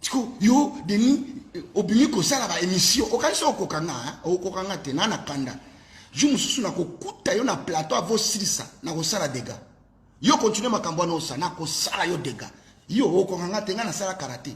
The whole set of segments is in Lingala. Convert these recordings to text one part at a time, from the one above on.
siko yo denis obimi kosala baémission okanisi okoka nga okoka nga te naa na kanda jour mosusu nakokuta yo na plateau avosilisa nakosala dega yo continue makambo wana osa nakosala yo dega yo okoka nga te nga nasala karate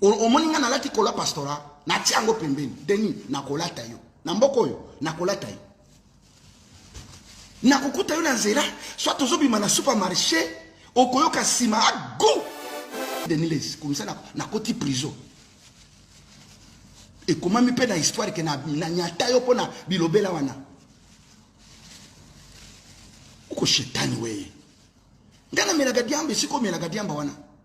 omoni ngai nalati kola pastora natia yango pembeni deni nakolata yo na mboka oyo nakolata yo nakokuta yo na nzela soit tozobima na supermarché okoyoka nsima ago deniles komisa nakoti prison ekomami mpe na histoire ke nanyata yo mpo na bilobela wana oko shetani weye ngai namelaka diamba esika omelaka diamba wana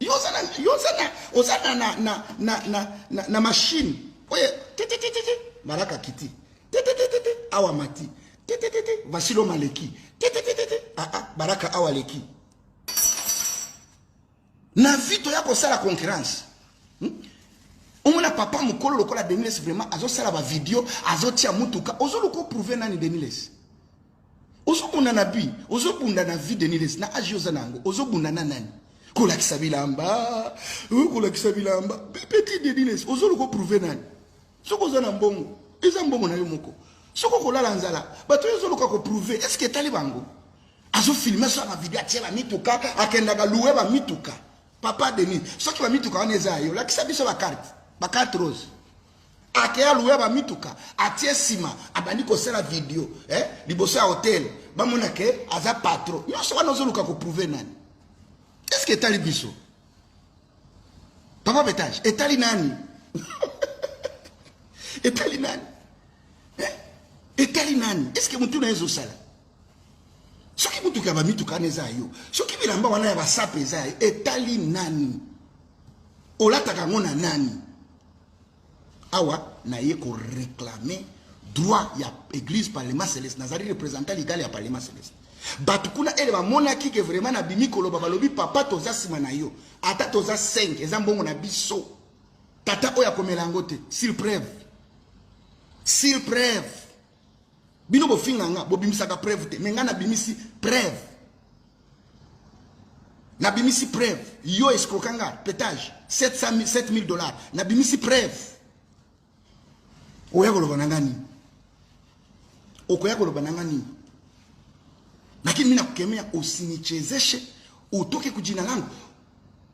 Yo oza na yo oza na oza na na na na na na, na machine. Oye tete tete tete baraka kiti. Tete tete tete awa mati. Tete tete Vasilo maleki. Tete tete tete ah ah baraka awa leki. Na vie toya kosala concurrence. Hmm? omona papa mokolo lokola deniles vraiment azosala bavideo azotia motuka ozoluka oprouve nani deniles ozobunda na bi ozobunda na vie denilesi na age oza na yango ozobunda na nani kolakisa bilamba euh, kolakisa bilamba petit denilesi ozoluka oprouve nani soki oza na mbongo eza mbongo na yo moko soki okolala nzala bato oyo ozoluka koprouve est ce que etali bango azofilme so na video atie bamituka akendaka loue bamituka papa denis soki bamituka wana eza ya yo lakisa biso bakarte bakarte rose ake aluya bamituka atie nsima abandi kosala video eh? liboso ya hotel bamona ke aza patro nyonso wana ozoluka koprouve nani eske etali biso papa betage etali nani etali nani eh? etali nani eske motu na ye ezosala soki motuka ya bamituka wana eza yo soki bilamba wana ya basape eza etali nani olataka yango na nani awa naye ko reclamer droit ya église parlement celeste nazali représentant legal ya parlement celeste bato kuna ele bamonaki ke vraiment nabimi koloba balobi papa toza nsima na yo ata toza 5 eza mbongo na biso tata oyo akomela yango te sur preuve sur preuve bino bofinga nga bobimisaka preuve te me nga nabimisi preuve nabimisi preuve yo escroka nga petage 7000 dollars nabimisi preuve oya koloba na nga nini okoya koloba na nga nini lakini mi nakukemea usinichezeshe utoke kujina langu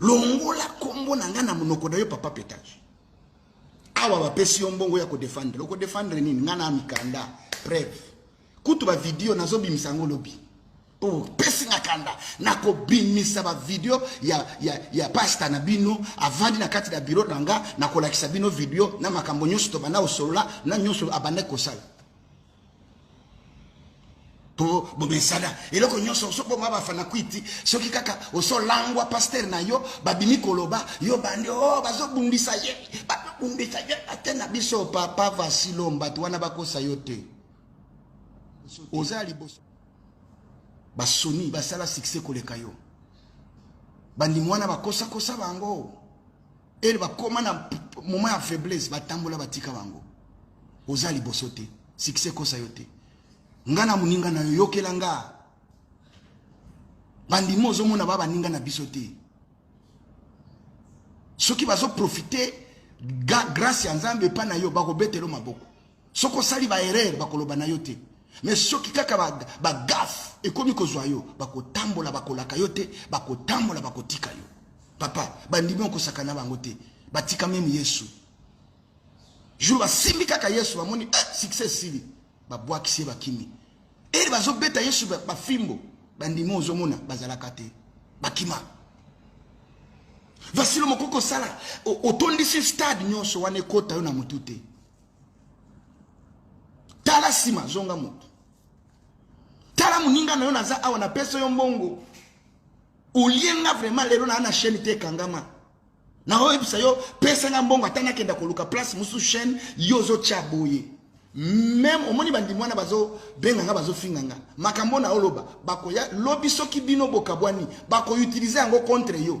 longola kombo na ngai na monoko na yo papa petage awa bapesi yo mbongo ya kodefendre okodefendre nini ngai na mikanda preve kutu bavideo nazobimisa yango lobi mpo bopesi nga kanda nakobimisa bavideo ya, ya, ya pasta na bino avandi na kati na biro na nga nakolakisa bino video na makambo nyonso tobanda kosolola na nyonso abandaki kosala po bomesana eloko nyonso osoboma bafana kwiti soki kaka osolangwa pastere na yo babimi koloba yo bande o oh, bazobundisa ye bazobundisa ye ate na biso papa vasilo mbato wana bakosa yo te oza ya liboso basoni basala succès koleka yo bandimi wana bakosakosa bango ele bakoma na moment ya faiblesse batambola batika bango oza liboso te succès kosa yo te nga na moninga na yo yokela nga bandima ozomona ba baninga na biso te soki bazoprofite grâce ya nzambe epai na yo bakobetelo maboko soki osali ba erreur bakoloba na yo te me soki kaka bagafe ba ekomi kozwa yo bakotambola bakolaka yo te bakotambola bakotika yo papa bandimi okosaka na bango te batika meme yesu jour basimbi kaka yesu bamoni eh, succès esili babwakisi ye bakimi ere bazobeta yesu bafimbo ba bandimi ozomona bazalaka te bakima vasilo mokoki kosala otondisi stade nyonso wana ekota yo na motu te tala nsima zonga moto tala moninga na yo naza awa napesa yo mbongo olie nga vraiment lelo naa na chaîne te ekangama naoyebisa yo pesa nga mbongo ata nakenda koluka place mosusu chaîne yo ozotya boye meme omoni bandimi wana bazobenga nga bazofinga nga makambo na oloba bakoya lobi soki bino bokabwani bakoutilize yango contre yo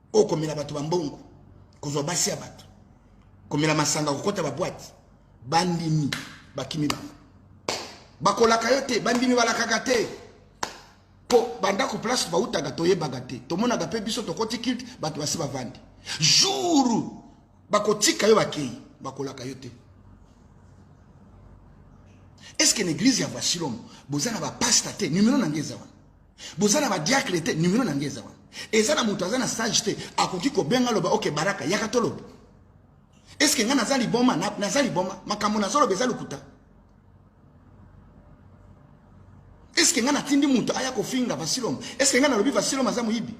oyo komela bato bambongo kozwa basi ya bato komela masanga kokɔta babwati bandimi bakimi bango bakolaka yo te bandimi balakaka te mpo bandako place bautaka toyebaka te tomonaka mpe biso tokoti kilte bato basi bavandi jour bakotika yo bakei bakolaka yo te est ce que na église ya vasilom boza na bapasta te numero na ngai eza wana boza na badiakle te nimero na ngai eza wana eza na moto aza na sage te akoki kobenga loba oke baraka yaka toloba eske ngai naza liboma naza liboma makambo nazoloba eza lokuta eske ngai natindi moto aya kofinga vasilom eske ngai nalobi vasilom aza moyibi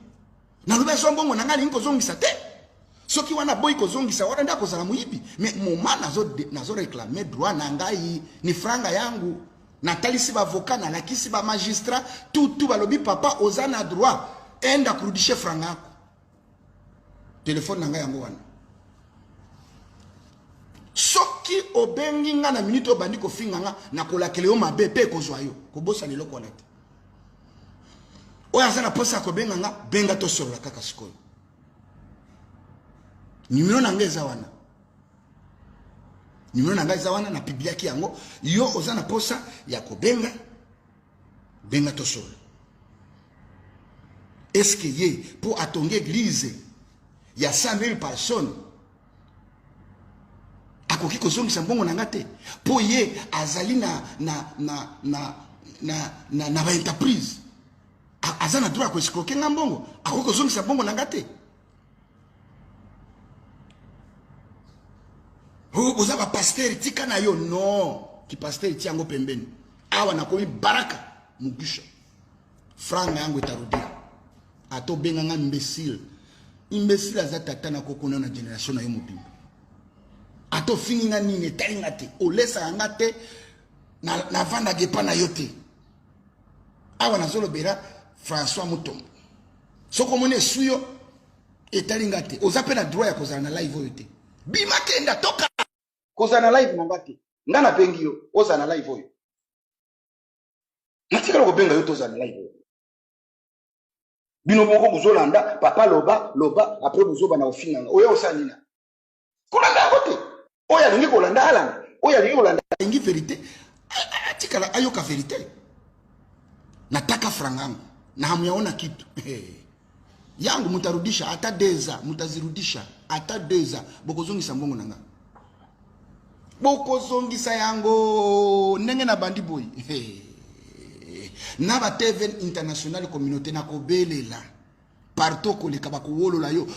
nalobi azwa mbongo na ngai alingi kozongisa te soki wana boyi kozongisa wana nde akozala moyibi me moma nazoreklame nazo droit na ngai ni franga yangu natalisi bavoka nalakisi bamagistrat tutu balobi papa oza na droit ende akurudishe franga yako telefone na ngai yango wana soki obengi ngai na minute obandi kofinga ngai nakolakela yo mabe mpe ekozwa yo kobosana eloko wana te oyo aza na posa ya kobenga nga benga tosolola kaka sikoyo nimero na nga eza wana nimero na nga eza wana na pibliaki yango yo oza na posa ya kobenga benga tosolola eske ye mpo atongi eglize ya 100 000 personnes akoki kozongisa mbongo na nga te mpo ye azali na na na na na na, na baentreprise aza na droit ya koescroke nga mbongo akoki kozongisa mbongo na nga te oza bapastere tika na yo non kipastere ti yango pembeni awa nakomi baraka mugusha Franc na yango etarudia. Ato benga nga imbécile. Imbécile aza tata na koko na generation na yo mobimba. Ato fingi nga nini etali nga te. Olesa nga te na na vanda gepa na yo te. Awa na zolo bera François Mutombo. Soko mone suyo etali nga te. Oza pe na droit ya kozala na live oyo te. Bima kenda toka. Kozala na live na nga te. Nga na bengi yo ozala na live oyo. natikala kobenga yo tozala na live bino moko bozolanda papa loba loba apres bozoba na ofinganga oya osala nina kolanda yango te oyo alingi kolanda alanda oyo alingi kolanda alingi verité atikala ayoka verité nataka frangango na hamu yango na kitu yangu mutarudisha ata deza mutazirudisha ata deza bokozongisa mbongo na nga bokozongisa yango ndenge na bandi boye na ba tv international communauté nakobelela partout okoleka bakowolola yo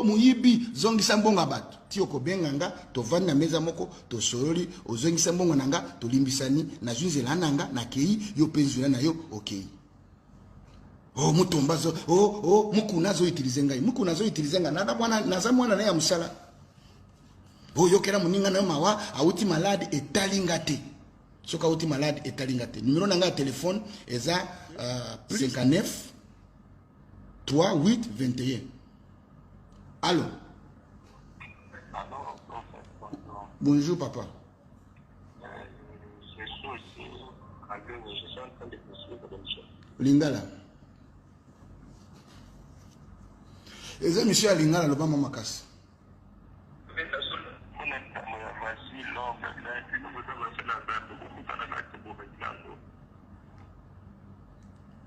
moyibi zongisa mbongo ya bato ti okobenga nga tovandi na meza moko tosololi ozongisa mbongo na nga tolimbisani nazwi nzela na nga nakei yo mpe nzela na yo okei okay. oh mutomba zo oh oh mukuna zo utiliser ngai mukuna zo utiliser ngai naza mwana naza mwana na ya musala oh yokela muninga na mawa auti malade etali nga te soki auti malade etali nga te numero na ngai ya telefone eza uh, 59 3 8 21 allo bonjour papa lingala eza misio ya lingala loba mwa makasi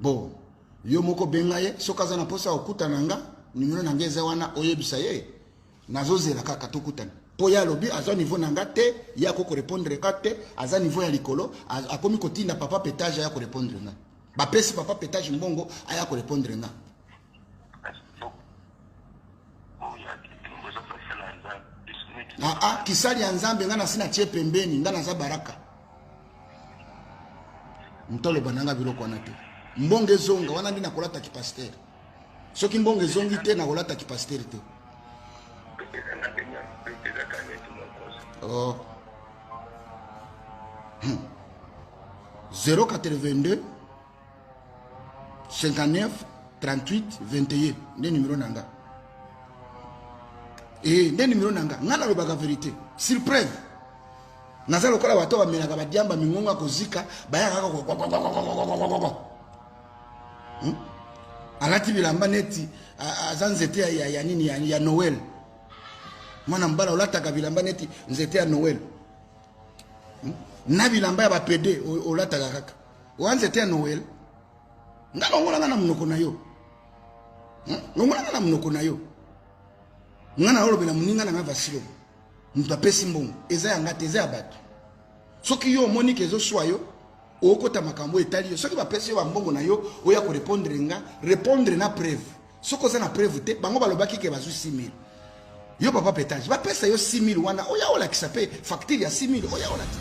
bon yo moko benga ye soki aza na mposa ya kokutana nga nimero na ngai eza wana oyebisa ye nazozela kaka tokutana mpo ye alobi aza niveau na nga te ye ako korepondre ka te aza niveau ya likolo akomi kotinda papa petage aya korepondre nga bapesi papa petage mbongo aya korepondre nga aa ah, ah, kisali ya nzambe ngai nasi natie pembeni ngai naza baraka motoloba na ngai biloko wana te mbongo ezonga wana nde nakolata kipastere soki mbongo ezongi te nakolata kipasiteri te oh. 082 59 38 21 nde numero na nga e nde numero na nga ngai nalobaka verité sur preuve naza lokola bato bamelaka badiamba mingongo ya kozika bayaka kaka hmm? alati bilamba neti aza nzete ya, ya, ya nini ya, ya noel mwana mobala olataka bilamba neti nzete ya noel hmm? na bilamba ya bapede olataka kaka oya nzete ya noel nga longola nga na monoko na yo hmm? longola nga na monoko na yo nga naolobela moninga na nga vasilo moto apesi mbongo eza ya nga te eza ya bato soki yo omoni ke ezoswa yo okota makambo etali yo soki bapesi yo bambongo na yo oya korepondre nga repondre na preuve soki oza na preuve te bango balobaki ke bazwi 6000 yo papa petage bapesa yo 6000 wana oya olakisa mpe facture ya 6000 oya olakisa